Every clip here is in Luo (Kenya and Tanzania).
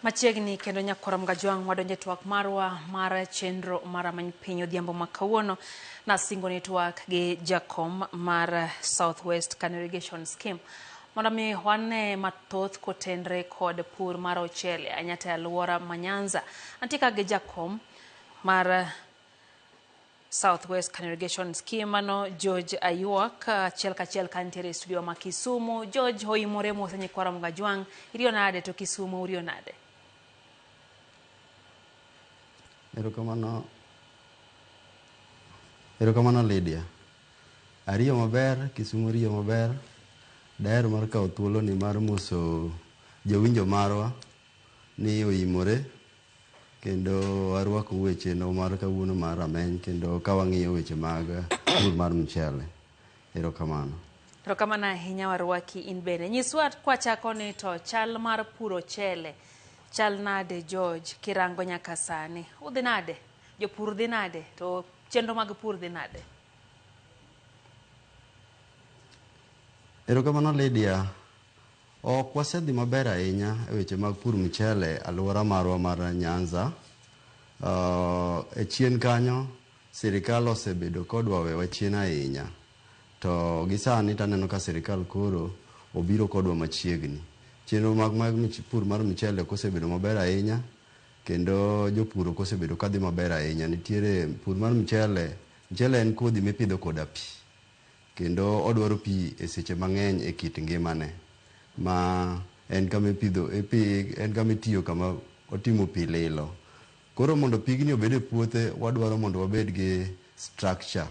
Machiegni kendo Nyakwara Mgajwang' wadonjo e twak marwa mar chenro mar Amany Piny Odhiambo ma kawuono. Nasingo ni twak gi jakom mar South West Kano Irrigation Scheme mondo mi wane mathoth kotenre kod pur mar ochele anyata e alwora ma Nyanza. Antie ka gi jakom mar South West Congregation Scheme ano George Ayuak achiel kachiel kantiere e studio ma Kisumu. George hoimore mose nyikwara Mgajwang'. Iriyo nade to Kisumu uriyo nade? Erokamano. Erokamano Lydia. Ariyo maber, Kisumu oriyo maber. Daher mar kawo thuoloni mar moso jowinjo marwa ni oimore. Kendo arwakou e chenro mar kawuono mar Rameny kendo ka wang'iyo weche mag pur mar mchele. Erokamano. Erokamano ahinya warwaki in bende. Nyiswa kwachako ni to chal mar puro chele chal nade George kirango nyaka sani? Udhi nade? Jopur dhi nade? To chenro mag pur dhi nade? Erokamano Lydia. Ok wasedhi maber ahinya e weche mag pur mchele alwora marwa mar Nyanza. Uh, e chien kanyo sirikal osebedo kodwa wewa chien ahinya, to gi sani taneno ka sirikal koro obiro kodwa machiegni. Chenro mag, mag mich- pur mar mchele ok osebedo maber ahinya kendo jopur ok osebedo kadhi maber ahinya. Nitiere pur mar mchele, mchele en kodhi mipidho koda pi. Kendo odwaro pi e seche mang'eny e kit ngimane. Ma en kama ipidho, en kama itiyo kama otimo pi lilo. Koro mondo pigni obed e puothe, wadwaro mondo wabed gi structure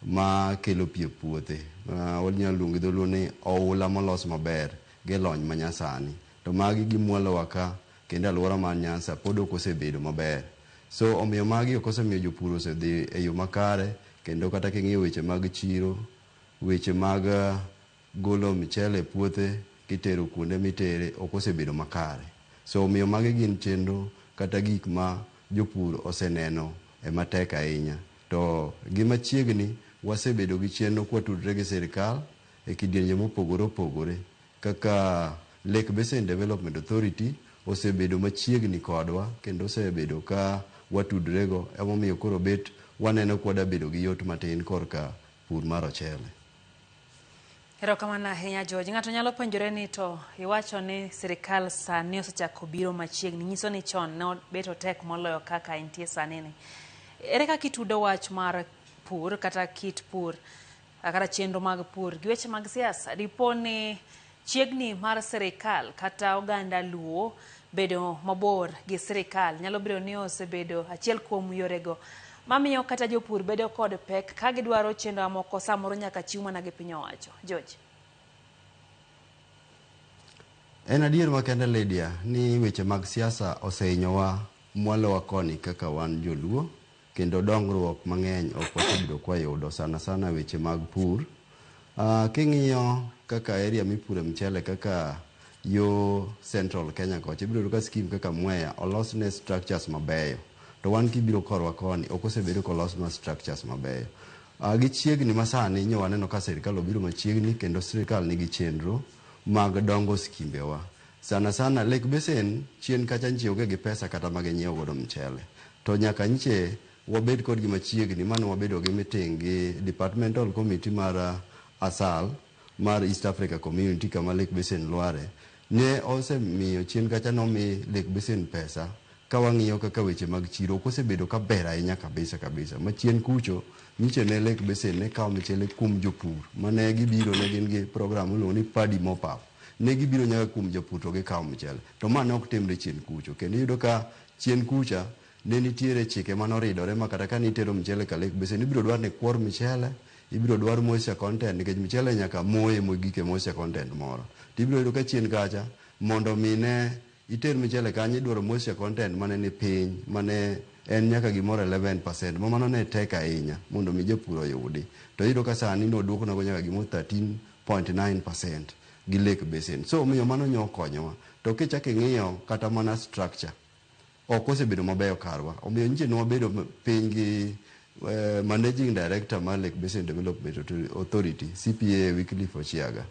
ma kelo pi e puothe. Wanyalo luongo gi dholuo ni oula molos maber gi lony manyasani. To magi gimwalowa ka. Kendo aluora mar Nyanza pod ok osebedo maber. So omiyo magi ok osemiyo jopur osedhi e yo makare kendo kata king'iyo weche mag chiro, weche mag golo michele e puothe kitero kuonde mitere ok osebedo makare. So omiyo magi gin chenro kata gik ma jopur oseneno e matek ahinya. To gi machiegni wasebedo gi chenro kwatudre gi sirkal e kidienje mopogore opogore. Kaka Lake Basin Development Authority osebedo machiegni kodwa kendo osebedo ka watudrego emomiyo koro obet waneno ka wada bedo gi yot matin korka pur mar ochele. Erokamano ahinya George. Ng'ato nyalo penjore ni to iwacho ni sirikal sani osechako biro machiegni, nyiso ni chon ne bet otek moloyo kaka entie sani ni. Ere kaka itudo wach mar pur kata kit pur A Kata chenro mag pur gi weche mag siasa, dipo ni chiegni mar sirikal kata oganda Luo bedo mabor gi sirikal nyalo bedo ni osebedo achiel kuom yorego mamiyo kata jopur bedo kod pek ka gidwaro chenro moko samoro nyaka chiw mana gi piny owacho. George. En adier makende Lydia ni weche mag siasa osehinyowa mwalowa koni kaka wan joluo. Kendo dongruok mang'eny ok wasebedo kwa yudo sana sana weche mag pur. King'iyo kaka area mipure mchele kaka yo central Kenya kocha ibiro yudo ka scheme kaka Mwea olosne structures mabeyo. To wan kibiro korwa koni ok osebed kolosnwa structures mabeyo. Gichiegni ma sani nyo waneno ka sirkal obiro machiegni kendo sirkal nigi chenro mag dongo skimbe wa. Sana sana Lake Basin chien kacha nchi onge gi pesa kata ma ginyiew godo mchele. To nyaka nche wabed kodgi machiegni mano wabedo gi meeting gi departmental committee mar ASAL mar East Africa Community kama Lake Basin lware. Ne osemiyo chien kacha nomi Lake Basin pesa ka wang'iyo kaka weche mag chiro ok osebedo ka ber ahinya kabisa kabisa. Ma chien kucho nyiche ne Lake Basin ne kawo michele kuom jopur ma ne gibiro ne gin gi program miluongo ni Paddy Mop-Up. Ne gibiro nyaka kuom japur to gikawo michele. To ma ne ok timre chien kucho kendo iyudo ka Chien kucha, ne nitiere chike mane oridore ma kata kane itero mchele ka lake basin, ibiro dwar ni kwor mchele, ibiro dwar moisture content nikech mchele nyaka moye mogik e moisture content moro. To ibiro yudo ka chien kacha, mondo mi ne iter mchele kanyo idwaro moisture content mane ni piny, mane en nyaka gimoro eleven percent, ma mano ne tek ahinya mondo mi japur oyudi. To iyudo ka sani ne oduoknago nyaka gimoro thirteen point nine percent. gi lake basin. So omiyo mano nyo okonyowa. To kichak ing'iyo kata mana structure ok osebedo mabeyo karwa. Omiyo nyiche ne wabedo piny gi managing director mar Lake Basin Development Authority, CPA Wycliffe Ochiaga,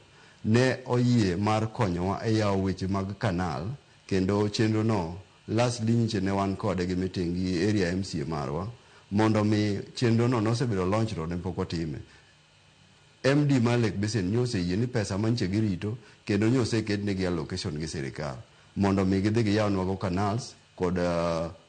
ne oyie mar konyowa e yawo weche mag canal kendo chenro no lastly nyiche ne wan kode gi meeting gi area MCA marwa mondo mi chenro no nosebedo launched to ne pok otime. MD mar Lake Basin nyo oseyie ni pesa ma nche girito kendo nyo oseket negi allocation gi sirikal mondo omi gidhi giyaw nwago canals kod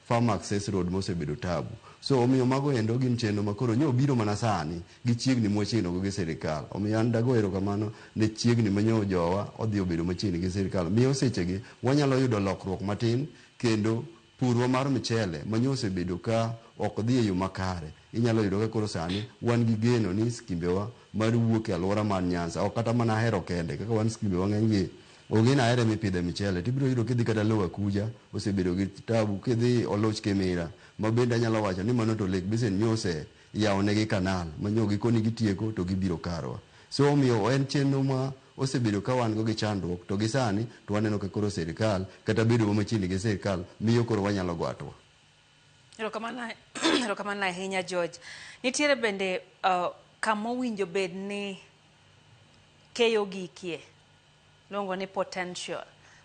farm access road mosebedo tabu. So omiyo mago endo gin chenro ma koro nyo obiro mana sani gichiegni mwachiegni go gi sirikal. Omiyo an dago erokamano ne chiegni ma nyo jowa odhi obedo machiegni gi sirikal. Miyo sechegi wanyalo yudo lokruok matin kendo Purwa mar mchele manyo osebedo ka ok dhi e yo makare, inyalo yudo ka koro sani wan gi geno ni skimbewa mar wuok e aluora mar Nyanza ok kata mana Ahero kende kaka wan skimbewa ng'eny gi onge ni Ahero ema ipidhe mchele to ibiro yudo kidhi kata Lower Akuja osebedo gi tabu kidhi Oluch Kimira ma bende anyalo wacho ni mano to Lake Basin nyo ose iyawo negi kanal ma nyoo gikoni gitieko to gibiro karwa. So omiyo en chenro ma osebedo ka wan go gi chandruok to gi sani to waneno ka koro sirkal kata bedo wa machiegni gi sirkal miyo koro wanyalo go atua. Erokamano erokamano ahinya George. Nitiere bende uh, kama owinjo bed ni keyo gikie? Luongo ni potential.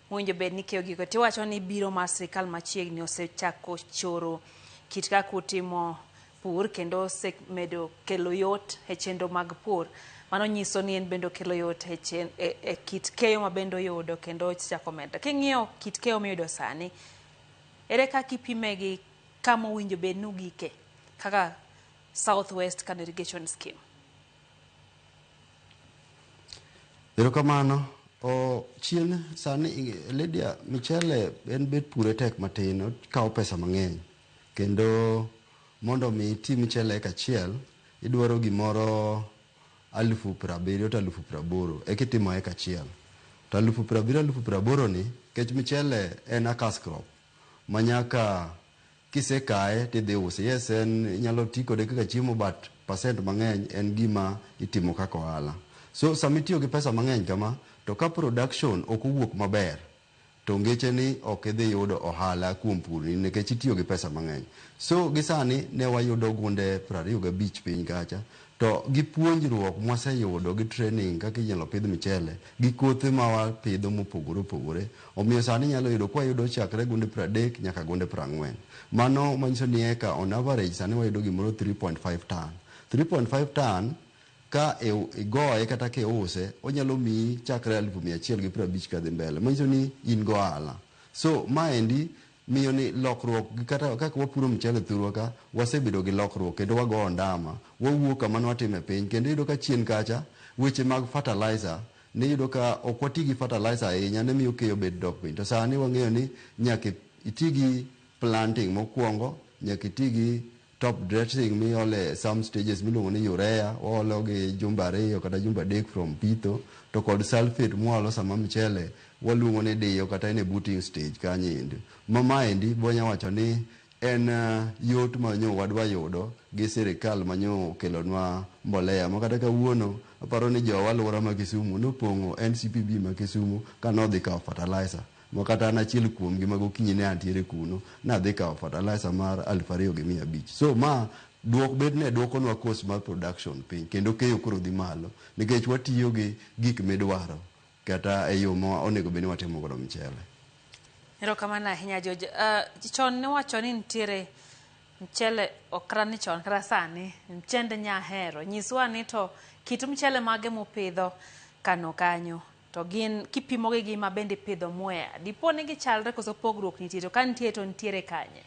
Mowinjo bed ni keyo giko tiwacho ni biro mar sirkal machiegni osechako choro kit kaka utimo pur kendo osemedo kelo yot e chenro mag pur. Mano nyiso ni en bende okelo yot e, chen, e, e kit keyo ma bende oyudo kendo osechako medre. King'iyo kit keyo miyudo sani, ere kaka ipime gi kama owinjo bed ni ugike kaka South West Kano Irrigation Scheme? Erokamano. Oh, chien sani Lydia Michele en bet pure tek matin, okawo pesa mang'eny. Kendo mondo mi iti michele eka achiel, idwaro gimoro alufu prabiriyo to alufu praboro eka itimo eka achiel. To alufu prabiriyo alufu praboro ni, kech michele en a cash crop ma nyaka Kisekaye tidhi use. Yes en inyalo ti kode kaka chiemo but percent mang'eny en gima itimo kaka ohala. So sama itiyo gi pesa mang'eny kama to ka production ok owuok maber to ngeche ni ok idhi yudo ohala kuom pur ni nikech itiyo gi pesa mang'eny. So gi sani ne wayudo gunde prariyo gabich piny kacha To gi puonjruok mwaseyudo gi training kaka inyalo pidh mchele gi kothe ma wapidho mopogore opogore, omiyo sani inyalo yudo kwayudo chakre gunde pradek nyaka gunde prang'wen. Mano manyiso ni eka on average sani wayudo gimoro three point five ton. Three point five ton ka igoye kata kiuse onyalo miyi chakre alufu mia achiel gi prabich kadhi mbele manyiso ni in gohala. So maendi Miyo ni lokruok gi kata kaka wapuro mchele thurwa ka, wasebedo gi lokruok kendo wago ondama, wawuok kama ne watime piny kendo iyudo ka chien kacha weche mag fertilizer ne iyudo ka ok wati gi fertilizer ahinya ne miyo keyo bet dok piny to sani wang'eyo ni nyaka iti gi planting mokuongo, nyaka iti gi. Top dressing miole some stages miluongo ni urea waolo gi jumbe ariyo kata jumbe adek from pitho to kod sulphate mwalo sama mchele waluongo ni diyo kata en e booting stage kanyo endi. Ma maendi bonya wacho ni en uh, yot ma nyo wadwa yudo gi sirikal ma nyo okelonwa mbolea ma kata kawuono aparo ni jowa alwora ma Kisumu nopong'o NCPB ma Kisumu ka nodhi kawo fertilizer ma kata an achiel kuomgi ma gokinyi ne antiere kuno, nadhi kawo fertilizer mar aluf ariyo gi mia abich. So ma duok bed ni duokonwa cost mar production piny kendo keyo koro dhi malo nikech watiyo gi gik midwaro kata e yo ma onego bed ni watimo godo mchele. Erokamano ahinya George. Uh, chon niwacho ni nitiere mchele okra ni chon kata sani mchend nyahero. Nyiswa ni to kit mchele mage mupidho kano kanyo. To gin kipimogi gi ma bende ipidho mwea, dipo ni gichalre koso pogruok nitie? To ka nitie to nitiere kanye?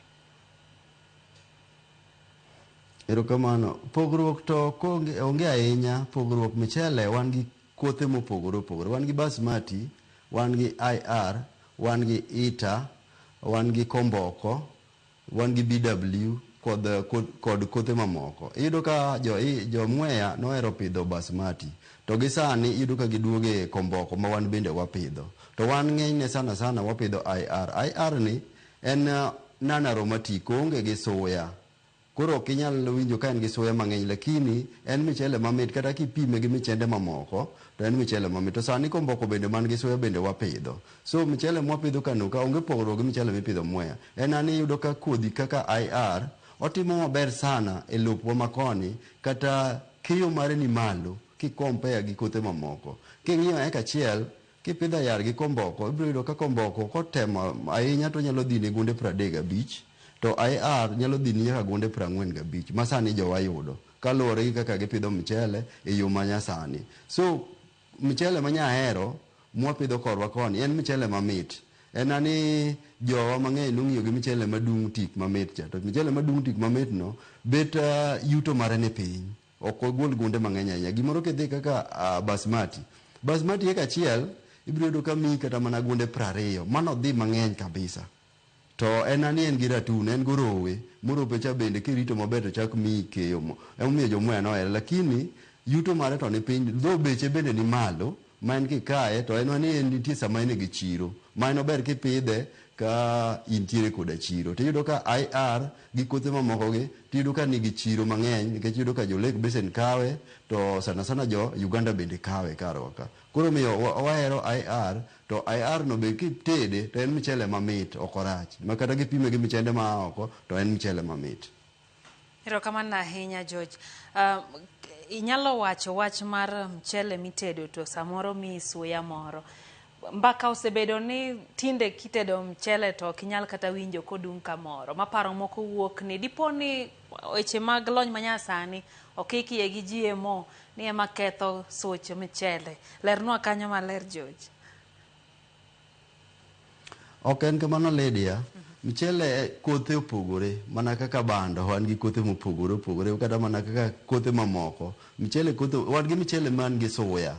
Erokamano. Pogruok to konge, onge ahinya pogruok michele wan gi kothe mopogore opogore. Wan gi basmati, wan gi IR, wan gi ita, wan gi komboko. wan gi BW kod kod kothe mamoko. Iyudo ka jo jo Mwea nohero pidho Basmati to gi sani iyudo ka giduogo e komboko ma wan bende wapidho. To wan ng'enyne sana sana wapidho IR. IR ni en non aromatic oonge gi suya koro ok inyal winjo ka en gi suya mang'eny lakini en michele mamit kata kipime gi michende mamoko to en michele mamit. To sani komboko bende man gi suya bende wapidho. So mchele mwapidho kano ka onge pogruok gi mchele mipidho Mwea. En an iyudo ka kodhi kaka IR otimo maber sana e lopwa makoni kata keyo mare ni malo ki compare gi kothe mamoko. King'iyo eka achiel kipidho IR gi komboko ibiro yudo ka komboko kotemo ahinya to onyalo dhini gunde pradek gabich to IR nyalo dhini nyaka gunde prang'wen gabich ma sani jowa yudo kaluwore gi kaka gipidho mchele e yo manyasani. So Mchele manya ahero mwapidho korwa koni en mchele mamit. En ani jowa mang'eny nong'iyo gi mchele madung' tik mamit cha. To mchele madung' tik mamit no bet yuto mare ni piny. Ok ogol gunde mang'eny ahinya. Gimoro kidhi kaka Basmati. Basmati eka achiel ibiro yudo ka miyi kata mana gunde prariyo. Mano dhi mang'eny kabisa. To en ani en gi ratun, en gorowe, morope cha bende kirito maber to chak miyi keyo mo. Emomiyo jo Mwea nohere lakini yuto mare to ni piny though beche bende ni malo ma en kikaye to en ani en nitie sama en e gi chiro ma en ober kipidhe ka intiere koda chiro. To iyudo ka IR gi kothe mamoko gi tiyudo ka ni gi chiro mang'eny nikech iyudo ka jo Lake Basin kawe to sana sana jo Uganda bende kawe kar wa ka. Koro omiyo wahero IR To IR no be kitede to en mchele mamit ok orach ma kata kipime gi mchende ma a oko to en mchele mamit. Erokamano ahinya George. Uh, inyalo wacho wach mar mchele mitedo to samoro mi suya moro. Mbaka osebedo ni tinde kitedo mchele to ok inyal kata winjo kodung' kamoro. Maparo moko wuok ni dipo ni weche mag lony manyasani okik iye gi GMO ni ema ketho such michele. Lernwa kanyo maler George. Ok en kamano Lydia. Mchele eh, kothe opogore mana kaka bando wan gi kothe mopogore opogore kata mana kaka kothe mamoko. Mchele kothe wan gi mchele man gi suya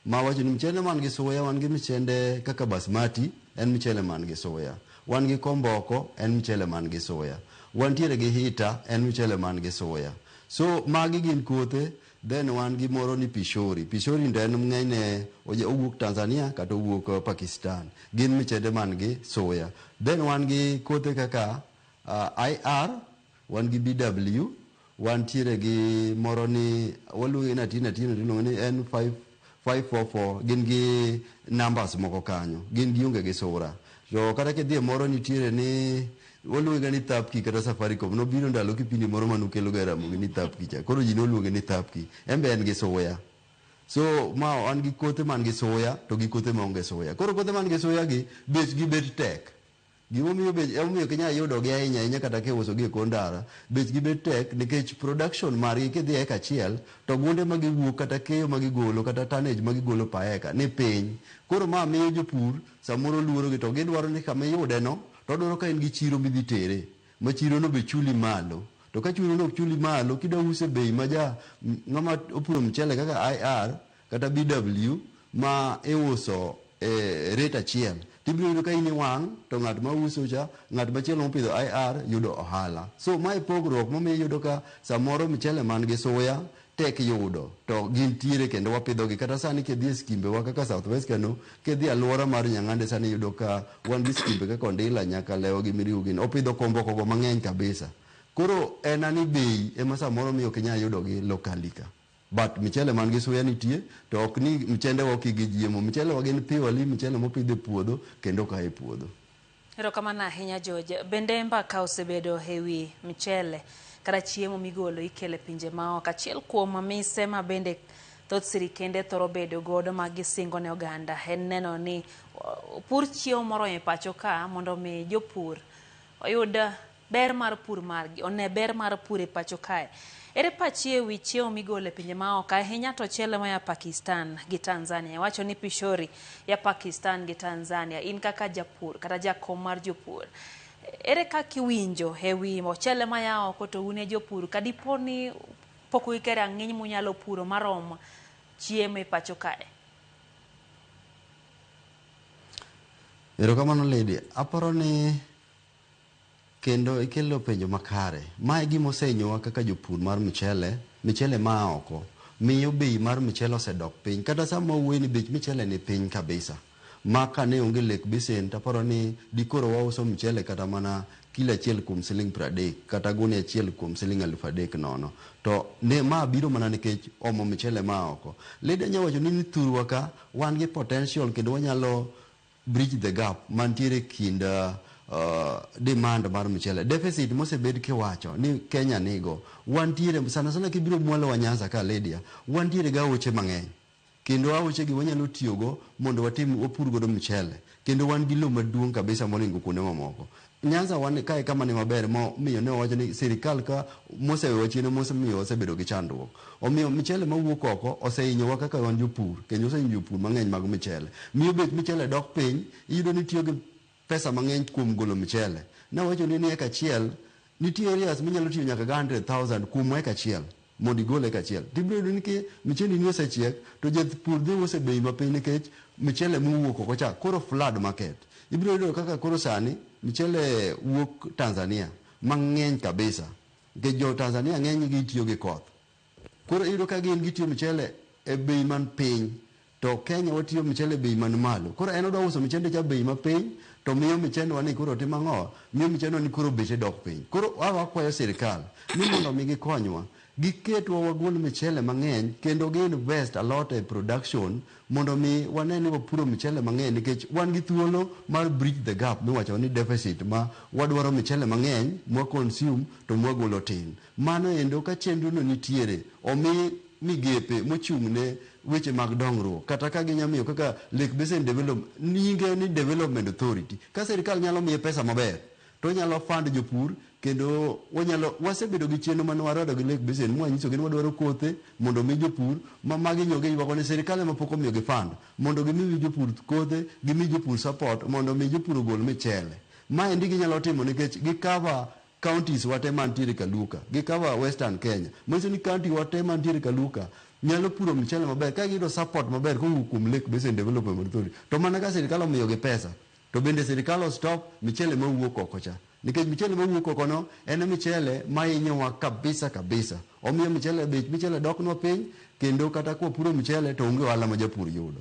Ma wacho ni mchele man gi suya, wan gi mchende kaka basmati, en mchele man gi suya. Wan gi komboko, en mchele man gi suya. Wantiere gi hita, en mchele man gi suya. So magi gin kothe, then wan gi moro ni pishori. Pishori to en ng'enyne oja owuok Tanzania kata owuok Pakistan. Gin mchende man gi suya. Then wan gi kothe kaka IR. Wan gi BW, wantiere gi moro ni waluonge ni atin atin to iluonge ni en five five four four gin gi numbers moko kanyo gin gionge gi sura to kata kidhie moro nitiere ni waluonge ga ni thapki kata safaricom nobiro ndalo kipindi moro manukelo ga ramogi ni thapki cha koro ji noluonge ni thapki en be en gi suya so ma an gi kothe man gi suya to gi kothe ma onge suya koro kothe man gi suya gi bechgi bet tek Gima omiyo bech ema omiyo ok inyal yudogi ahinya ahinya kata kiusogi e kor ndara, bechgi bet tek nikech production margi kidhi e eka achiel to gunde ma giwuok kata keyo ma gigolo kata tonnage ma gigolo per eka ni piny. Koro ma miyo jopur samoro luorogi to gidwaro ni kama iyudeno to odwaro ka en gi chiro midhi tere ma chirono be chuli malo. To ka churono ok chuli malo kidwa uso e bei ma ja ng'ama opuro mchele kaka IR, kata BW ma iuso e rate achiel to ibiro yudo ka in iwang' to ng'at ma uso cha, ng'at machielo mopidho IR yudo ohala. So ma e pogruok momiyo iyudo ka samoro mchele man gi suya tek yudo to gintiere kendo wapidhogi. Kata sani kidhi e skimbewa kaka South West Kano, kidhi alwora mar Nyang'ande sani iyudo ka wan gi skimbe kaka Ondila, Nyakalewa gi Miriu gini opidho komboko go mang'eny kabisa. Koro en ani bei ema samoro miyo ok inyal yudogi locally ka. But michele man gi suya nitie to ok ni mchendewa oki gi jiemo. Michelewa gin purely michele mopidh e puodho kendo oka e puodho. Erokamano ahinya George. Bende mbaka osebedo e wi mchele kata chiemo migolo ikelo e pinje maoko. Achiel kuom mise ma bende thoth sirikende thoro bedo godo ma gisingo ne oganda en neno ni opur chiemo moromo e pacho ka mondo omi jopur oyud Ber mar pur margi. One ber mar pur e pacho kae. Ere pachi e wi chiemo migolo e pinje ma oko, ahinya to ochele moya Pakistan gi Tanzania? Iwacho ni pishori ya Pakistan gi Tanzania. In kaka japur kata jakom mar jopur, ere kaka iwinjo e wi ochele maya oko to un e jopur ka dipo ni pok uike rang'iny munyalo puro marom chiemo e pacho kae? Erokamano Lady. Aparo ni Kendo ikelo penjo makare. Ma e gima osehinyowa kaka jopur mar mchele, michele maa oko miyo bei mar mchele osedok piny kata sama wawuoye ni bech michele ni piny kabisa ma kane onge Lake Basin to aparo ni dikoro wauso mchele kata mana kilo achiel kuom siling pradek kata gunia achiel kuom siling alufu adek nono. To ne ma biro mana nikech omo mchele maa oko. Lady anya wachoni ni thurwa ka wan gi potential kendo wanyalo bridge the gap mantiere e kind uh, demand mar mchele deficit mosebed kiwacho ni Kenya nigo wantiere sana sana kibiro mwalo wa Nyanza ka Lydia wantiere ga oche mang'eny kendo aoche gi wanyalo tiyogo mondo watim wapur godo mchele kendo wan gi lowo maduong' kabisa molingo kuonde mamoko Nyanza wan kae kama ni maber mo miyo ne owacho ni sirikal ka mosewewa chien mosemiyo wasebedo gi chandruok. Omiyo michele mawuok oko osehinyowa kaka wan jopur kendo osehinyo jopur mang'eny mag michele. Miyo bech michele dok piny, iyudo ni itiyo gi pesa mang'eny kuom golo michele. Nawachoni ni eka achiel nitie areas minyalo tiyo nyaka gi hundred thousand kuom eka achiel. mondo igole kachiel to ibiro yudo ni ki michendini osechiek to japur dhi use bei mapiny nikech michele mowuok oko cha koro flood market. Ibiro yudo kaka koro sani michele wuok Tanzania mang'eny kabisa nikech jo Tanzania ng'enygi tiyo gi koth. Koro iyudo ka gin gitiyo michele e bei man piny To Kenya watiyo mchele bei man malo. Koro en odwa uso mchende cha bei ma piny to miyo mchende wa ni koro timo ang'o? Miyo mchende wa ni koro beche dok piny. Koro a wakwayo sirkal ni mondo mi gikonywa giketwa wagol mchele mang'eny kendo gi invest a lot e production mondo mi wane ni wapuro mchele mang'eny nikech wan gi thuolo mar bridge the gap miwacho ni deficit ma wadwaro mchele mang'eny mwa consume to mwa golo tin. Mano endo ka chenrono nitiere, omi migepe mochung' ne weche mag dongruok kata ka ginya miyo kaka Lake Basin Develop, nyinge ni Development Authority, ka sirkal nyalo miye pesa maber to onyalo fund jopur kendo wanyalo, wasebedo gi chenro mane warado gi Lake Basin mwanyisogi ni wadwaro kothe mondo omi jopur ma magi nyo giywago ni sirkal ema pok omiyogi fund mondo gimi wi jopur kothe, gimi jopur support mondo omi jopur ogol michele. Maendi ginyalo timo nikech gi cover counties wa te mantiere Kaluka gi cover western Kenya. Manyiso ni county wa te mantiere Kaluka nyalo puro mchele maber ka giyudo support maber kowuok kuom Lake Basin Development Authority. To mana ka sirkal omiyogi pesa. To bende sirkal o stop mchele mawuok oko cha. Nikech mchele mawuok oko no en e mchele mahinyowa kabisa kabisa. Omiyo mchele bech mchele doknwa piny kendo kata kwapuro mchele to onge ohala ma japur yudo.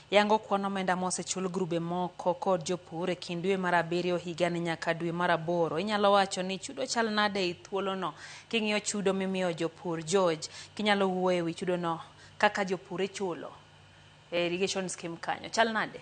Yango kwan omenda mosechul grube moko kod jopur e kind dwe mar abiriyo higani nyaka dwe mar aboro. Inyalo wacho ni chudo chal nade ei thuolono? King'iyo chudo mimiyo jopur, George, kinyalo wuoyo e wi chudono, kaka jopur ichulo e irrigation scheme kanyo. Chal nade?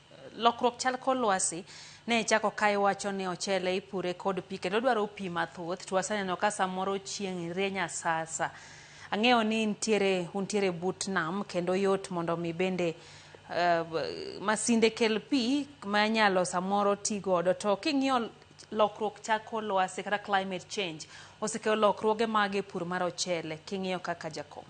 Lokruok chal kor lwasi ne ichako ka iwacho ni ochele ipure kod pi kendo dwaro pi mathoth to waseneno ka samoro chieng' rieny asasa. Ang'eyo ni ntiere, untiere but nam kendo yot mondo mi bende uh, masinde kel pi ma inyalo samoro ti godo to king'iyo lokruok chal kor lwasi kata climate change osekelo lokruoge mage pur mar ochele king'iyo kaka jakom?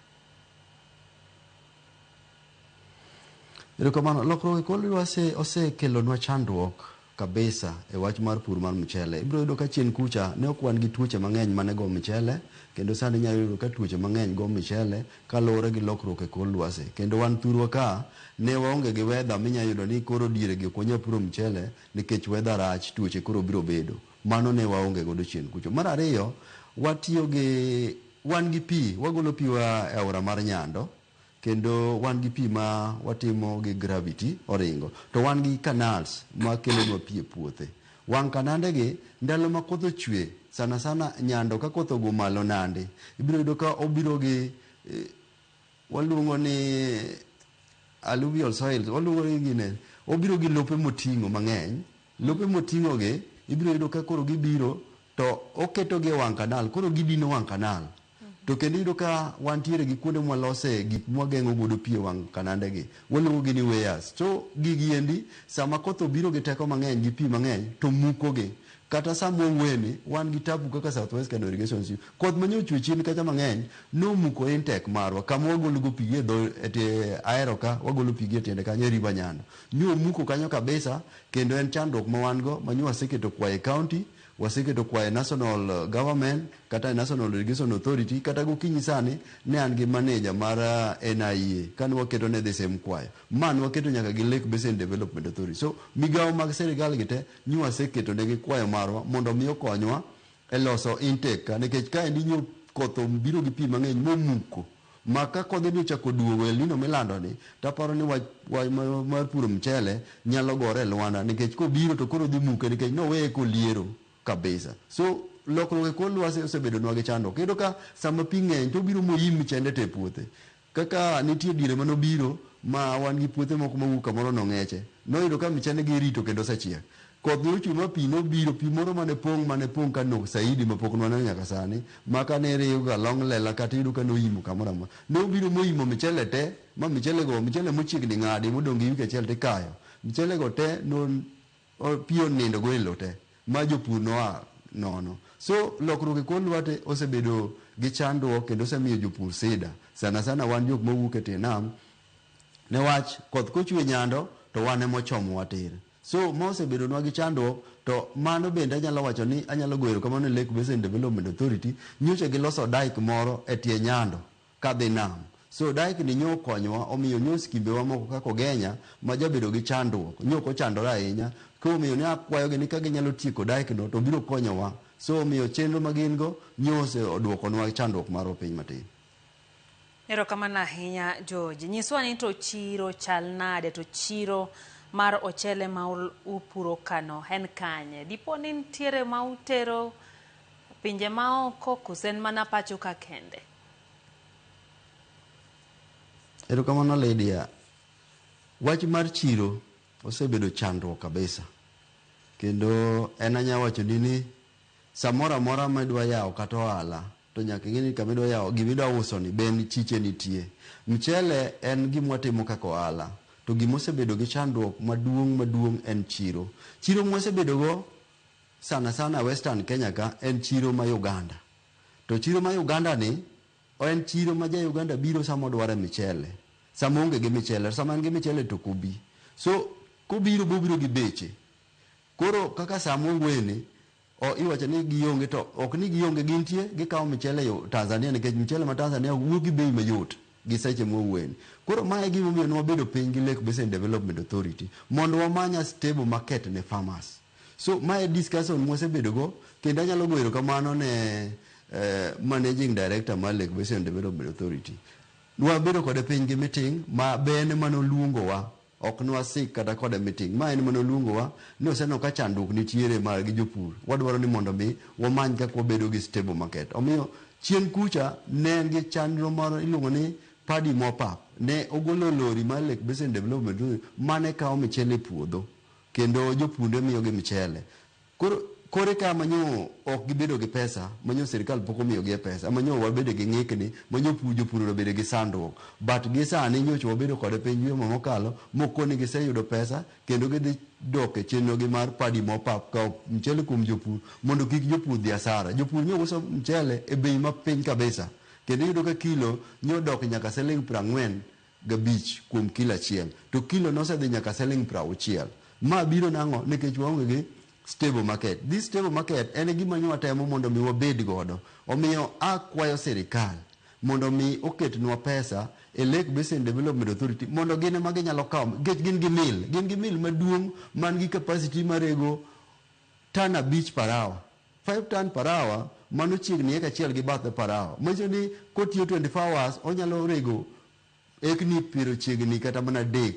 Erokamano. Lokruok e kor lwasi osekelonwa chandruok kabisa e wach mar pur mar mchele. Ibiro yudo ka chien kucha ne ok wan gi tuoche mang'eny mane go mchele kendo sani inyalo yudo ka tuoche mang'eny go mchele kaluwore gi lokruok e kor lwasi. Kendo wan thurwa ka ne waonge gi weather minyalo yudo ni koro dieregi ok wanyal puro mchele nikech weather rach, tuoche koro biro bedo. Mano ne waonge godo chien kucho. Mar ariyo, watiyo gi, wan gi pi, wagolo pi wa e aora mar Nyando, kendo wan gi pi ma watimo gi gravity, oringo. To wan gi canals ma kelonwa pi e puothe. Wang' kanande gi, ndalo ma koth ochwe, sana sana Nyando ka koth ogo malo nandi, ibiro yudo ka obiro gi, waluongo ni alluvial soils, waluongo ni gine, obiro gi lope moting'o mang'eny. Lope moting'ogi ibiro yudo ka koro gibiro to oketogi e wang' kanal, koro gidino wang' kanal. To kendo iyudo ka wantiere gi kuonde mwalose gik mwageng'o godo pi e wang' kanandegi, waluongogi ni weirs. To gigi endi sama koth obiro gi teko mang'eny gi pi mang'eny to mukogi. Kata sama owene, wan gi tabu kaka South West Kano Irrigation Scheme, koth manyo ochwe chien kacha mang'eny nomuko intake marwa kama wagologo pi gi e dho, ahero ka, wagolo pi gi e tiende kanyo e river Nyando. Nyomuko kanyo kabisa. Kendo en chandruok ma wan go manyo waseketo kwayo e county, waseketo kwayo e national government kata e National Irrigation Authority kata gokinyi sani ne an gi manager mar NIA kane waketo ne the same kwayo. Ma ne waketo nyaka gi Lake Basin Development Authority. So migawo mag sirkal gi te nyo waseketo negi kwayo marwa mondo omi okonywa e loso intake ka nikech kaendi nyo koth obiro gi pi mang'eny momuko. Ma ka kodhini ochako duogo e El Nino milandoni, to aparo ni wach mar puro mchele nyalo gore e lwanda nikech kobiro to koro dhi muke nikech noweye koliero kabisa. So lokruok e kor lwasi osebedonwa gi chandruok. Iyudo ka sama pi ng'eny to obiro moyim mchende te e puothe. Kaka nitie diere mane obiro ma wan gi puothe moko mawuok kamoro nong'eche. Noyudo ka mchende gi irito kendo osechiek. Koth ne ochunwa pi ne obiro, pi moro mane pong' mane pong' ka nok saidi ma pok nwaneno nyaka sani ma kane iriyo ga long lela kata iyudo ka noimo kamoro amora. Ne obiro moimo michele te ma michele go michele mochiegni ng'adi modong' gi wiki achiel tikayo. Michele go te no pi onindo go e lo te ma jopur noa nono. So lokruok e kor lwate osebedo gi chandruok kendo osemiyo jopur sida sana sana wan jok mawuok e tie nam ne wach koth kochwe nyando to wan emochomowa tir. So ma osebedonwa gi chandruok to mano bende anyalo wacho ni anyalo goyo erokamano ne Lake Basin Development Authority. Nyocha giloso dyke moro e tie Nyando ka dhi nam. So dyke ni nyo okonyowa omiyo nyo skimbewa moko kaka Ogenya ma jabedo gi chandruok nyo ok ochandore ahinya koro omiyo ne akwayogi ni ka ginyalo tieko dyke no to biro konyowa. So omiyo chenro ma gin go nyo ose duokonwa chandruok marwa piny matin. Erokamano ahinya George. Nyiswa ni to chiro chal nade to chiro mar ochele ma upuro kano en kanye? Dipo ni nitiere ma utero pinje maoko koso en mana pacho ka kende? Erokamano Lydia. Wach mar chiro osebedo chandruok kabisa kendo en anyawacho ni ni Samoro amora ma idwa yawo kata ohala to nyaka ing'e ni kama idwa yawo gima idwa uso ni be en chiche nitie. Mchele en gima watimo kaka ohala to gima osebedo gi chandruok maduong' maduong' en chiro. Chiro ma wasebedo go sana sana e western Kenya ka en chiro ma Uganda. To chiro ma Uganda ni en chiro ma ja Uganda biro sama odware mchele. Sama oonge gi mchele. To sama en gi mchele to ok obi. So kobiro be obiro gi beche. Koro kaka saa mowuoyeni o iwacho ni gionge to ok ni gionge gintie gikawo michele yo Tanzania nikech michele ma Tanzania wuok gi bei mayot gi seche mwawuoyeni. Koro ma e gimomiyo ne wabedo piny gi Lake Basin Development Authority mondo wamany a stable market ne farmers. So ma e discussion mwasebedo go kendo anyalo goyo erokamano ne Managing Director mar Lake Basin Development Authority. Nwabedo kode piny gi meeting ma be en emane oluongowa. Ok nwasik kata kod e miting. Ma en mane oluongowa ni oseneno ka chandruok nitiere mar gi jopur. Wadwaro ni mondo mi wamany kaka wabedo gi stable market. Omiyo chien kucha ne en gi chandro moro iluongo ni Paddy Mopap. Ne ogolo lori mar Lake Basin Development Authority mane kawo michele e puodho. Kendo jopur ne miyogi michele. Koro kore ka manyo ok gibedo gi pesa, manyo sirkal pok omiyogie pesa, manyo wabedo gi ng'ikni, manyo pu jopur obedo gi sandruok. But gi sani nyocha wabedo kode piny juma mokalo moko ni giseyudo pesa kendo gidhi dok e chenro gi mar padi mopap kawo mchele kuom jopur mondo kik jopur dhi asara. Jopur nyo uso mchele e bei ma piny kabisa kendo iyudo ka kilo nyo dok nyaka siling' prang'wen gabich kuom kilo achiel to kilo nosedhi nyaka seling prauchiel. Ma biro nang'o? Nikech waonge gi stable market. This stable market en e gima nyo watemo mondo mi wabed godo. Omiyo a kwayo sirikal mondo mi oketnwa pesa e Lake Basin Development Authority mondo gin ema ginyalo kawo nikech gin gi mill. Gin gi mill maduong' man gi capacity marego ton abich per hour. Five ton per hour, mano chiegni eka achiel gi bathe per hour. Manyiso ni kotiyo 24 hours onyalo rego ekni piero chiegni kata mana adek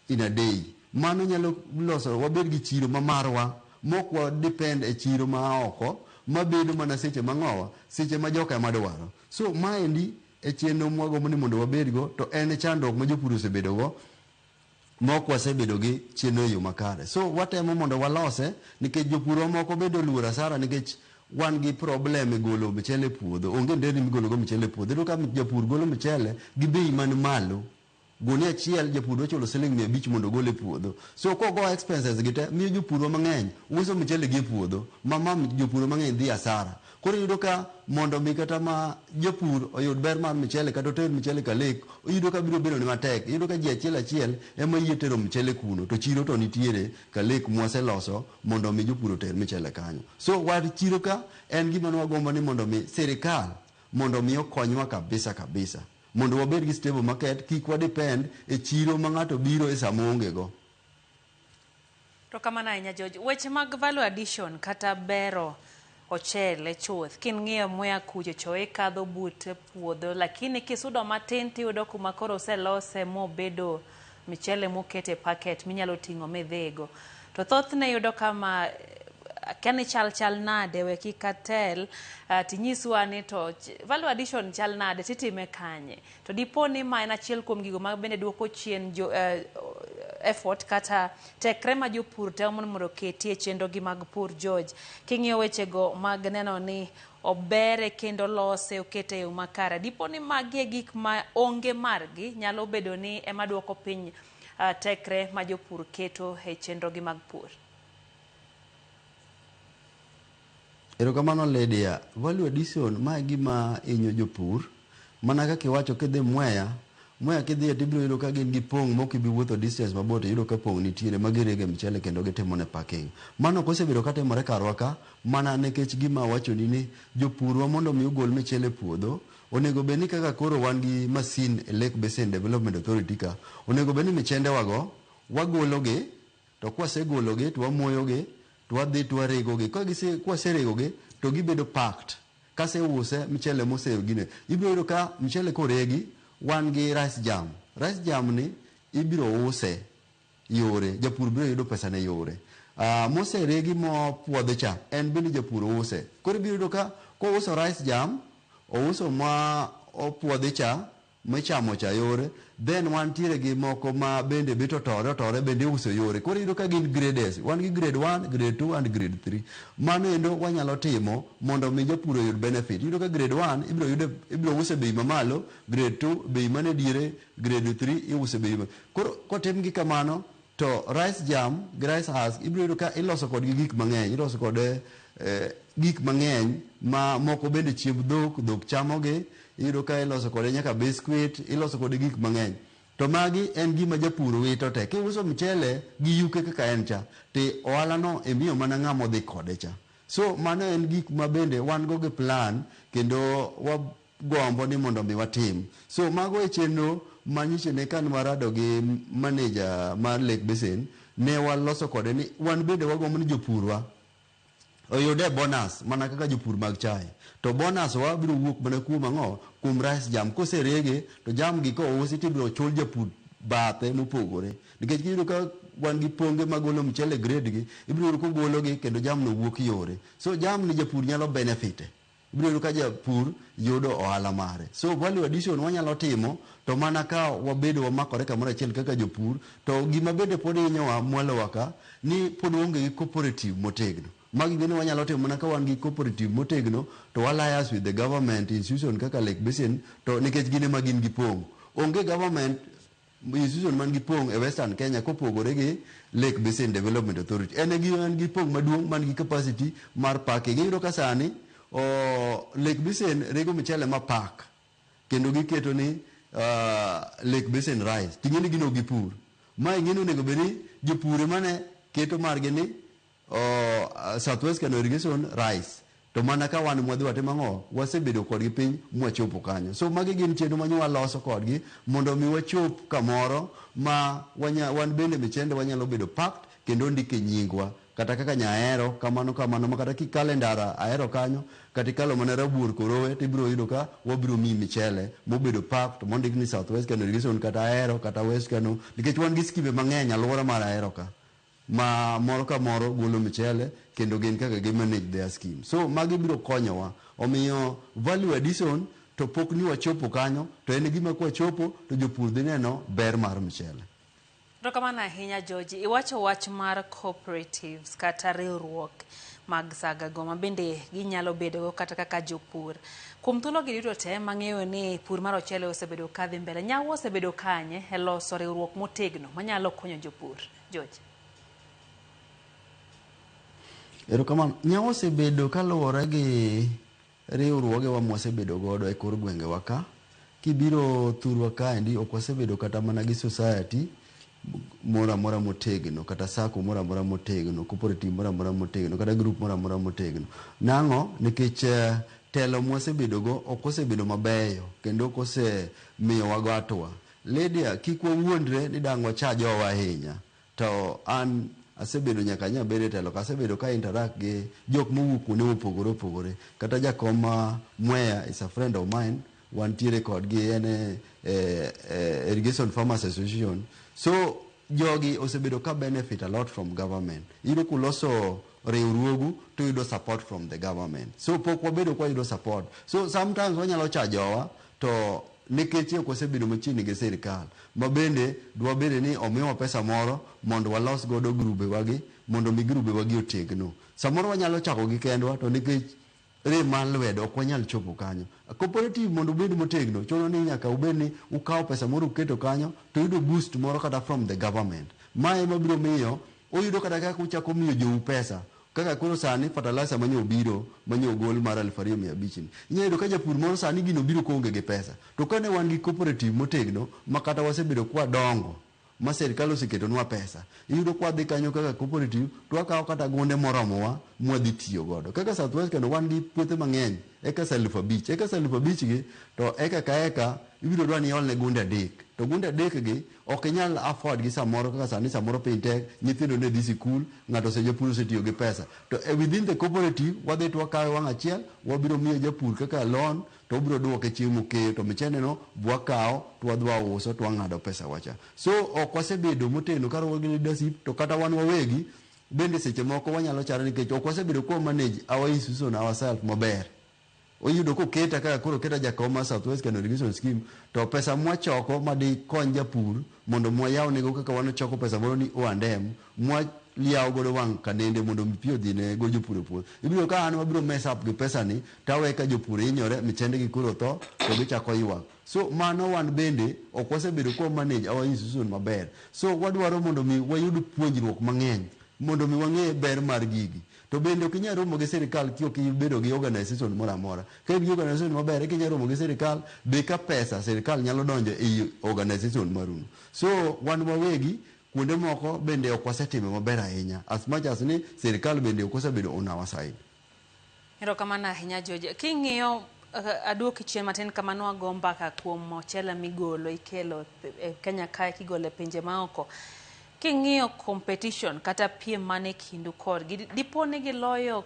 in a day. Mano nyalo loso wabed gi chiro ma marwa mok wa depend e chiro ma a oko mabedo mana seche ma ng'owa, seche ma joka ema dwaro. So maendi e chenro mwagombo ni mondo wabedgo to en e chandruok ma jopur osebedogo. Mok wasebedo gi chenro eyo makare. So watemo mondo walose nikech jopurwa moko bende oluor asara nikech wan gi problem e golo mchele e puodho. Onge nderni migolo go mchele e puodho. Iyudo ka japur golo mchele gi bei man malo. Gunia achiel japur dwa chulo siling mia abich mondo ogol e puodho. So kogo expenses gi te miyo jopurwa mang'eny uso mchele gi e puodho ma ma jopurwa mang'eny dhi asara. Koro iyudo ka mondo mi kata ma japur oyud ber mar mchele kata oter mchele ka lek, iyudo ka biro bedo ne matek. Iyudo ka ji achiel achiel ema yie tero mchele kuno to chiro to nitiere ka lek mwaseloso mondo mi jopur oter mchele kanyo. So wach chiro ka en gima ne wagombo ni mondo mi sirikal mondo mi okonywa kabisa kabisa. Mondo wabed gi stable market, kik wa depend e chiro ma ng'ato biro e sama oonge go. To kamano ahinya George. Weche mag value addition kata bero ochele chuth king'iyo muya kucho cho ikadho but puodho lakini kisudo matin tiyudo kuma koro oselose mobedo michele mokete packet minyalo ting'o midhigo. To thothne yudo kama akia ni chal chal nade we kik atel uh, tinyiswa ni to value addition chal nade titime kanye To dipo ni ma en achiel kuom gigo ma bende duoko chien jo, uh, effort kata tekre ma jopur temo mondo mondo oketi e chenrogi mag pur. George, king'iyo wechego mag neno ni obere kendo lose okete e yo makare, dipo ni magi e gik ma onge margi nyalo bedo ni ema duoko piny uh, tekre ma jopur keto e chenrogi mag pur. Erokamano Lydia. Value addition ma e gima inyo jopur. Mana kaka iwacho kidhi Mwea, Mwea kidhiye tibiro yudo ka gin gi pong' mok ibi wuotho distance mabor to iyudo ka pong' nitiere ma girege mchele kendo gitimone packing. Mano ok osebedo ka timore karwa ka mana nekech gima awachoni ni jopurwa mondo omi ogol michele e puodho, onego bed ni kaka koro wan gi masin e Lake Basin Development Authority ka, onego bed ni michendewago wagologi to kwasegologi to wamoyogi, To wadhi to waregogi. Ka gise, kwaseregogi to gibedo packed. Kaseuse mchele mose gine, ibiro yudo ka mchele koregi wan gi rice jam. Rice jam ni ibiro use yore, japur biro yudo pesane yore. Ah, moseregi mopuodhi cha, en bende japur use. Koro ibiro yudo ka kouso rice jam, ouso ma opuodhi cha, michamo cha yore then wantiere gi moko ma bende bet otore otore bende iuso yore koro iyudo ka gin grades wan gi grade 1 grade 2 and grade 3 mano endo wanyalo timo mondo mi japur oyud benefit iyudo ka grade 1 ibiro yude ibiro use bei mamalo grade 2 bei mane diere grade 3 iuse bei ma koro kotim gi kamano To rice germ gi rice husk ibiro yudo ka iloso kodgi gik mang'eny. Iloso kode gik mang'eny ma moko bende chiemb dhok, dhok chamogi. Iyudo ka iloso kode nyaka biscuit, iloso kode gik mang'eny. To magi en gima japur wito te. Kiuso mchele gi yuke kaka en cha, to ohalano imiyo mana ng'ama odhi kode cha. So mano en gik ma bende wan go gi plan kendo gombo ni mondo mi watim. So mago e chenro ma nyiche ne kane warado gi manager mar Lake Basin ne waloso kode ni wan bende wagombo ni jopurwa oyude bonus mana kaka jopur mag chae. To bonus wa biro wuok mana kuom ang'o? Kuom rice jam. Koserege to jam gi kousi to ibiro chul japur bathe mopogore. Nikech kiyudo ka wan gi ponge magolo mchele grade gi, ibiro yudo kogologi kendo jamno wuok yore. So jamni japur nyalo benefit e. Ibiro yudo ka japur yudo ohala mare. So value addition wanyalo timo to mana ka wabedo wamakore kamoro achiel kaka jopur. To gima bende pod hinyowa mwalowa ka ni pod waonge gi cooperative motegno. Magi bende wanyalo timo mana ka wan gi cooperative motegno to wa lias with the government institution kaka Lake Basin to nikech gin ema gin gipong'. Onge government Institution man gi pong' e Western Kenya kopogore gi Lake Basin Development Authority. En e man gi pong' maduong' man gi capacity mar packing. Iyudo ka sani Lake Basin rego mchele ma pack kendo giketo ni Lake Basin Rice. Ting'eni gin ok gipur. Ma ing'eni onego bed ni jopur emane keto margi ni oh, Southwest Kano Irrigation Rice to mana ka wan mwadhi watimo ang'o wasebedo kodgi piny mwachopo kanyo so magi gin chenro ma nyo waloso kodgi mondo mi wachop kamoro ma wanya, wan bende michende wanyalo bedo packed kendo ndike nyingwa kata kaka nyahero kamano kamano ma kata kikale ndara ahero kanyo kata ikalo mana rabuor korowe to ibiro yudo ka wabiro miyi michele mobedo packed mondik ni southwest kano irrigation kata ahero kata west kano nikech wan gi skimbe mang'eny alwora mar ahero ka ma moro ka moro golo michele kendo gin kaka gi manage their scheme so magi biro konyowa omiyo value addition to pok ni wachopo kanyo to en gima kwa chopo to jopur dhi neno ber mar michele. Erokamano ahinya George. Iwacho wach mar cooperatives kata riwruok mag sagago ma bende ginyalo bedogo kata kaka jopur. Kuom thuologi duto te mang'eyo ni pur mar ochele osebedo kadhi mbele, nyawo osebedo kanye e loso riwruok motegno manyalo konyo jopur? George. Erokamano. Nyawo osebedo kaluwore gi riwruogewa mwasebedo godo e kor gwengewa ka. Kibiro thurwa kaendi ok wasebedo kata mana gi society moro amora motegno kata sacco moro amora motegno, cooperative moro amora motegno kata group moro amora motegno. Nang'o? Nikech telo mwasebedogo ok osebedo mabeyo kendo ok osemiyowago hatua. Lydia, kik wawuondre ni dang' wacha jowa ahinya. To an asebedo nyaka nyo abed e telo ka, asebedo ka interact gi jok mowuok kuonde mopogore opogore. Kata jakom ma Mwea is a friend of mine, wantiere kodgi en e Irrigation Farmers Association. So jogi osebedo ka benefit a lot from government. Iyudo kuloso riwruogu to uyudo support from the government. So pok wabedo ka wayudo support. So sometimes wanyalo cha jowa To nikech ok wasebedo machiegni gi sirkal, ma bende dwabed ni omiwa pesa moro mondo walos godo grubewagi mondo omi grubewagi otegno. Samoro wanyalo chakogi kendwa to nikech rem mar lwedo ok wanyal chopo kanyo. Cooperative mondo obed motegno chuno ni nyaka ubed ni ukawo pesa moro uketo kanyo to uyudo boost moro kata from the government. Ma ema biro miyo uyudo kata kaka uchako miyo jou pesa Kaka koro sani fertilizer ma nyo obiro, ma nyo ogol mar aluf ariyo mia abich ni, inya yudo ka japur moro sani gini obiro ka oonge gi pesa. To ka ne wan gi cooperative motegno ma kata wasebedo ka wadongo ma sirkal oseketonwa pesa, iyudo ka wadhi kanyo kaka cooperative to wakawo kata gunde moromowa ma wadhi tiyo godo. Kaka South West kendo wan gi puothe mang'eny, acres aluf abich. Acres aluf abich gi to acre ka acre ibiro dwa ni iolne gunde adek. To gunde adek gi Ok inyal afford gi samoro kaka sani samoro piny tek, nyithindo ne dhi sikul, ng'ato ose japur osetiyo gi pesa. To e within the cooperative wadhi to wakawe wang' achiel, wabiro miyo japur kaka loan to obiro duoke chieng' mokeyo to michende no be wakawo to wadhi wauso to wang'ado pesa wa cha. So ok wasebedo motegno kaluwore gi leadership to kata wan wawegi bende seche moko wanyalo chare nikech ok wasebedo kwa manage our institution ourselves maber. Oyudo koketa kaka koro oketa jakom mar South West Kano Irrigation Scheme to pesa mwachoko madikony japur mondo mwayawnego kaka wan ochoko pesa moro ni Oa Ndem mwa liyawo godo wang' kanende mondo mi pi odhine go jopur e puodho. Ibiro yudo ka an wabiro mess up gi pesani to awe ka jopur hinyore, michembegi koro otho to gichako ywak. So mano wan bende ok wasebedo kwa manage our institution maber. So wadwaro mondo mi wayud puonjruok mang'eny mondo mi wang'e ber mar gigi. To bende ok inyal romo gi sirkal kiok ibedo gi organization moro amora. Ka in gi organization maber eka inyalo romo gi sirkal be ka pesa sirkal nyalo donjo ei organization maruno. So wan wawegi kuonde moko bende ok wasetime maber ahinya as much as ni sirkal bende ok osebedo on our side. Erokamano ahinya George. King'iyo aduoki chien matin kama nwago mbaka kuom ochele migolo ikelo e Kenya kae kigolo e pinje maoko. King'iyo competition kata piem man e kindu kodgi, di- dipo ni giloyo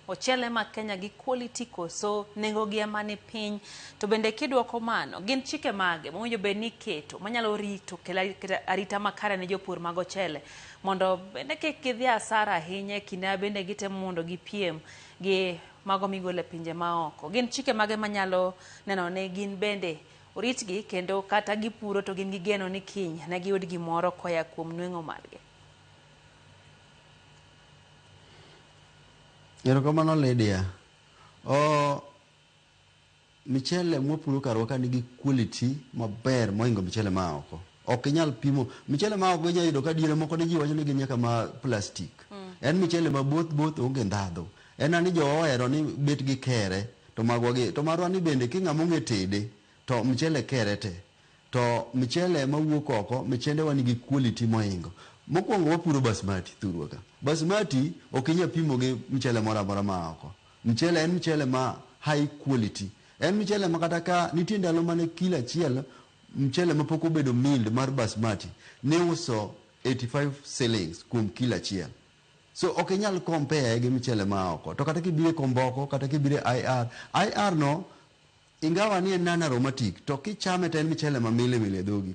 ochele ma Kenya gi quality koso nengogi ema ni piny? To bende kidwoko mano, gin chike mage mowinjo bed ni iketo manyalo rito kelo ari- kelo arita makare ne jopur mag ochele mondo bende kik gidhi asara ahinya e kinde ma bende gitemo mondo gipiem gi mago migolo e pinje maoko? Gin chike mage manyalo neno ni gin bende Oritgi, kendo kata gipuro to gin gi geno ni kiny ne giyud gimoro koya kuom nweng'o margi. Erokamano Lydia. Oh, michele mwapuro karwa ka nigi quality maber mohingo michele ma a oko. Ok inyal pimo, michele ma a oko inyayudo ka diere moko ne ji wacho ni gin nyaka ma plastic. En michele ma both both onge ndhadho. En ani jowa ohero ni bet gi kere to magwa gi to marwa ni bende ki ng'ama ong'e tede to mchele kere te to mchele ema wuok oko michende wa nigi quality mohingo mokuongo wapuro basmati thurwa ka basmati ok inya pimo gi mchele moro amora ma a oko mchele en mchele ma high quality en mchele ma kata ka nitie ndalo mane kilo achiel mchele ma pok obedo milled mar basmati ni uso 85 shillings kuom kilo achiel So ok inyal compare gi mchele maa oko. To kata kibiro e komboko, kata kibiro e IR, IR no ingawa ni en non aromatic to kichame to en mchele ma mili mili e dhogi.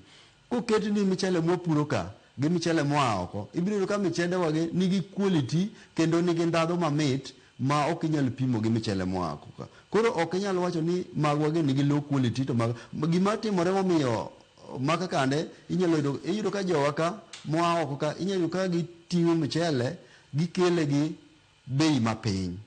Koketni mchele mwa puro ka gi mchele moa oko, ibiro yudo ka michende wagi nigi quality kendo nigi ndhadho mamit ma ok inyal pimo gi mchele moa oko ka. Koro ok inyal wacho ni magwa gi nigi low quality to magwa. Gima timore momiyo ma ka kande inyalo yudo iyudo ka jowa ka moa oko ka inyalo yudo ka giting'o mchele gikele gi bei mapiny.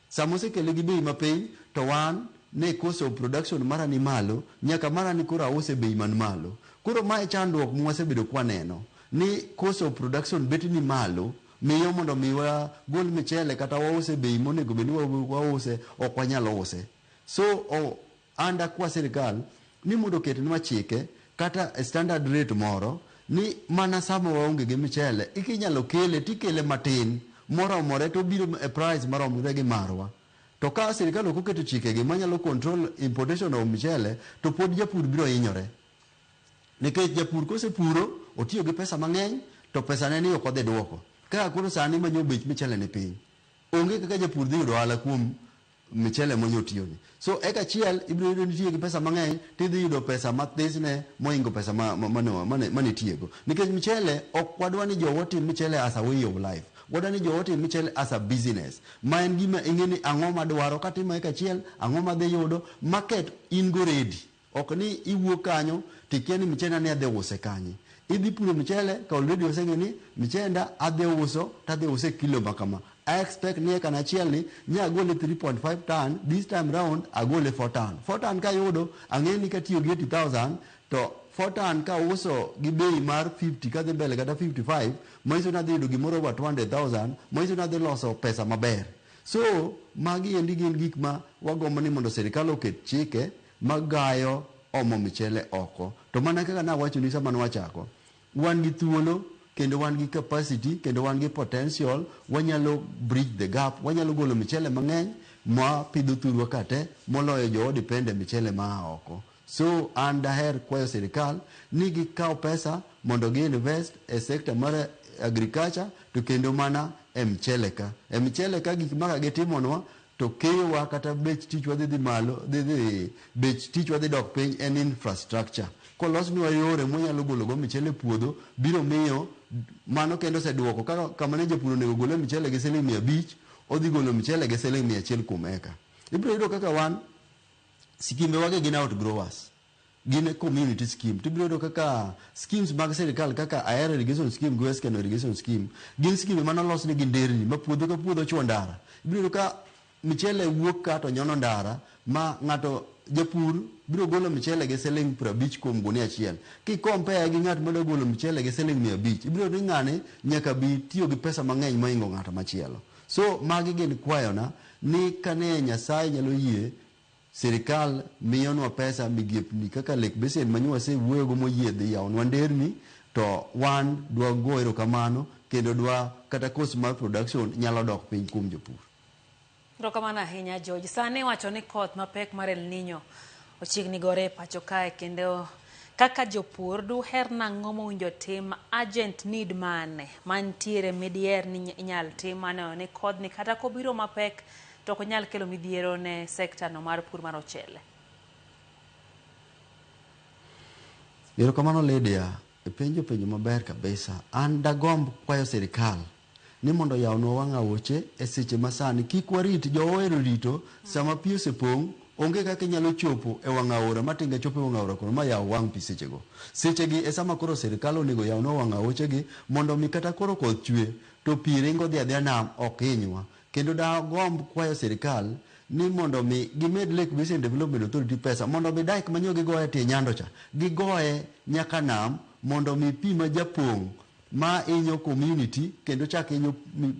Sama osekele gi bei mapiny to wan ne cost of production mara ni malo nyaka mara ni koro ause bei man malo. Koro ma e chandruok mwasebedo kwaneno ni cost of production bet ni malo miyo mondo mi wagol mchele kata wause bei monego bed ni wause ok wanyal use. So o And akwa sirkal ni mondo oketnwa chike kata standard rate moro ni mana sama waonge gi mchele eki inyalo kele to ikele matin moromore to obiro e price maromre gi marwa. To ka sirkal ok oketo chikegi manyalo control importation of mchele to pod japur biro hinyore. Nikech japur kosepuro otiyo gi pesa mang'eny to pesane ni ok odhi duoko. Kaka koro sani ma nyo bech mchele ni piny, onge kaka japur dhi yudo ohala kuom michele monyo tiyoni. So eka achiel ibiro yudo nitiye gi pesa mang'eny to idhi yudo pesa mathisne moingo pesa ma, ma, mane, mane, mane itiyego. Nikech michele ok wadwa ni jowa otim michele as a way of life. Wadwa ni jowa otim michele as a business. Ma en gima ing'e ni ang'o madwaro katimo eka achiel, ang'o madhi yudo, market in go ready. Ok ni iwuok kanyo to ikia ni mchenda ni adhi use kanye. Idhi puro mchele to already oseng'eyo ni mchenda adhi uso to adhi use e kilo ma kama. I expect ni acre achiel ni nye agole 3.5 ton, this time round agole 4 ton. 4 ton kayudo ang'eyo ni katiyo gi 80,000 to 4 ton kauso gi bei mar 50 kadhi mbele kata 55 manyiso ni adhi yudo gimoro over 200,000 manyiso ni adhi loso pesa maber. So magi endi gin gik ma wagombo ni mondo sirikal oket chike magayo omo michele oko. To mana kaka nawachoni sama nwachako, wan gi thuolo kendo wan gi capacity kendo wan gi potential, wanyalo bridge the gap, wanyalo golo michele mang'eny mwapidho thurwa ka te moloyo jowa depend e michele maa oko. So an daher kwayo sirkal ni gikaw pesa mondo gi invest e sector mar agriculture to kendo mana e mchele ka. E mchele ka gik maka gitimonwa to keyowa kata bech tichwa dhi dhi malo, dhi dhi bech tichwa dhi dok piny en infrastructure. Kolosnwa yore mwanyalo gologo mchele e puodho biro miyo mano kendo oseduoko kaka kama ne japur onego gole mchele gi siling' mia abich odhi golo mchele gi siling' mia achiel kuom eka. Ibiro yudo kaka wan Skimbe wage gin outgrowers. Gin e community scheme. Tibiro yudo kaka schemes mag sirkal kaka Ahero irrigation scheme gi West Kano irrigation scheme gin skimbe mane olos nigi nderni ma puodho ka puodho chwo ndara. Ibiro yudo ka michele wuok ka to nyono ndara ma ng'ato japur biro golo michele gi siling' prabich kuom gunia achiel. Ki compare gi ng'at madwa golo michele gi siling' mia abich, ibiro yudo ni ng'ani nyaka bi tiyo gi pesa mang'eny mohingo ng'at machielo. So magi gin kwayona. Ni ka ne Nyasaye nyalo yie, sirkal miyonwa pesa, migepni kaka Lake Basin ma nyo wasewuoyogo moyie dhi yawonwa nderni to wan dwa go erokamano kendo dwa kata cost mar production nyalo dok piny kuom jopur. Erokamano ahinya George. Sani iwacho ni koth mapek mar El Nino. Ochiegni gore e pacho kae kendo kaka jopur duher nang'o mowinjo tim urgent need mane mantiere midiher ni inyal tim maneno ni kodhni kata kobiro mapek to ok nyal kelo midhiero ne sekta no mar pur mar ochele. Erokamano Lydia. Ipenjo penjo maber kabisa. An dagomb kwayo sirikal ni mondo oyawnwa wang' aoche e seche ma sani. Kik warit jo ohero rito sama pi osepong' onge kaka inyalo chopo e wang' aora ma tinga chopo e wang' aora kono ma yaw wang' pi sechego. Sechegi e sama koro sirikal onego oyawnwa wang' aochegi mondo mi kata koro koth chwe to pi ringo dhi adhiya nam ok hinywa. Kendo da agomb kwayo sirikal ni mondo omi gimed Lake Basin Development Authority pesa mondo omi dike manyo gigoye tie Nyando cha gigoye nyaka nam mondo omi pi ma japong' ma inyo community kendo chak inyo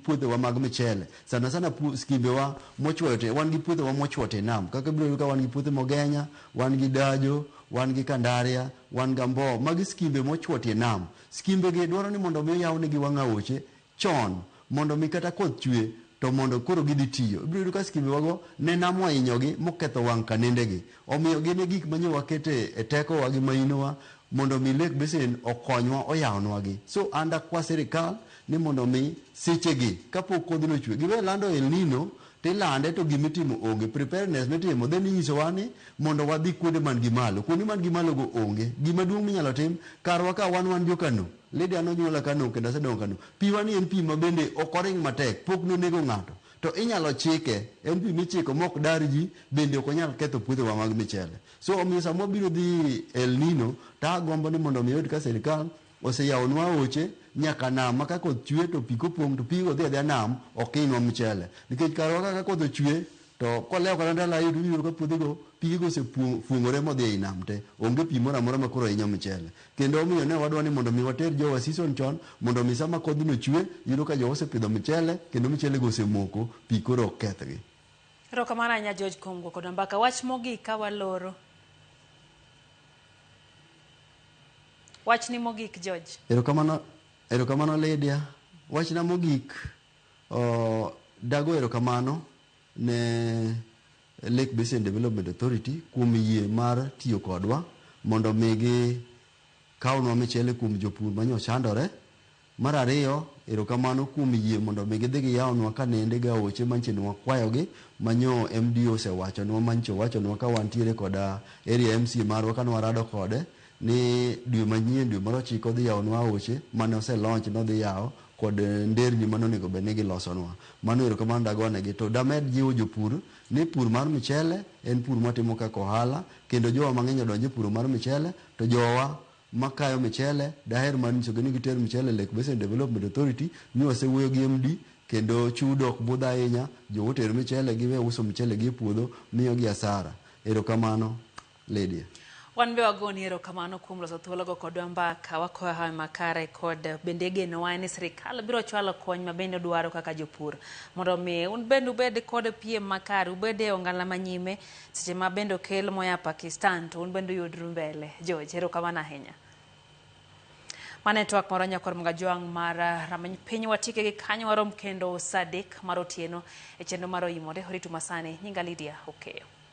puothewa mag michele sana sana skimbewa mochwoyo te wan gi puothewa mochwo te nam kaka ibiro yudo ka wan gi puothe Mogenya, wan gi Dajo, wan gi Kandaria, wan gi Ambo. Magi skimbe mochwo tie nam. Skimbegi dwaro ni mondo omi oyawnegi wang'aoche chon mondo mi kata koth chwe to mondo koro gidhi tiyo. Ibiro yudo ka skimbewago ne nam ohinyogi moketho wang' kanendegi. Omiyo gin e gik ma nyo wakete e tekowa gi mahinowa mondo mi Lake Basin okonywa oyawnwagi. So an dakwa sirikal ni mondo mi sechegi kapok kodhno ochwe giwe lando El Nino to ilande to gima itimo onge. Preparedness mitimo then inyisowa ni mondo wadhi kuonde man gi malo. Kuonde man gi malogo onge. Gima duong' minyalo tim karwa ka wan wan jo Kano. Lydia nonyuola Kano kendo asedongo Kano. Piwa ni en pi ma bende ok oring matek, pok nonego ng'ato, to inyalo chike. En pi michiko mok dar ji, bende ok onyal ketho puothewa mag michele. So omiyo sama wabiro dhi El Nino, to agombo ni mondo omi oyud ka sirkal oseyawonwa aoche nyaka nam ma ka koth chwe to pi kopong' to pigo dhi adhiya nam, ok hinywa mchele. Nikech karwa ka ka koth ochwe, To kolewo kata ndalo ariyo to iyudo ka puothego pigego osefuong'ore modhi ei nam te. Onge pi moro amora makoro hinyo michele. Kendo omiyo ne wadwa ni mondo mi water jowa season chon mondo mi sama kodhno chwe, iyudo ka jowa osepidho michele kendo michelego osemoko, pi koro ok kethgi. Erokamano ahinya George kuom go kodwa mbaka. Wach mogik ka waloro. Wachni mogik George. Erokamano Erokamano Lydia. Wachna mogik. Dago erokamano ne Lake Basin Development Authority kuom yie mar tiyo kodwa mondo mi gi kawnwa michele kuom jopur ma nyochandore. Mar ariyo, erokamano kuom yie mondo mi gidhi giyawnwa kanende gi aoche manyiche ni wakwayogi ma nyo MDO osewachonwa manyiche owachonwa ka wantiere koda Area MCA marwa kane warado kode ni dwe manyien, dwe mar ochiko odhi yawonwa aoche mane ose launch ni odhi yawo kod nderni mane onego obed ni gilosonwa. Mano erokamano dagonegi. To damed jiwo jopur ni pur mar michele en pur mwatimo kaka ohala kendo jowa mang'eny odonj e puro mar michele to jowa makayo michele daher mar nyisogi ni giter michele e Lake Basin Development Authority ni wasewuoyo gi MD kendo chudo ok budh ahinya, jowa oter michele giwe uso michele gi e puodho miyogi asara. Erokamano. Lydia. Wan be wagoni erokamano kuom loso thuologo kodwa mbaka. Wakoyo hawi makare kod bende genowa en ni sirikal biro chwalo kony ma bende udwaro kaka jopur mondo omi un bende ubed kod piem makare, ubed e ongala ma nyime seche ma bende okel moya Pakistan to un bende uyudru mbele. George, erokamano ahinya. Mano e twak marwa nyakor mga jwang' mar rameny piny watike gi kanyo warom kendo sadek mar otieno e chenro mar oyimore oritu masani nyinga Lydia Okeyo.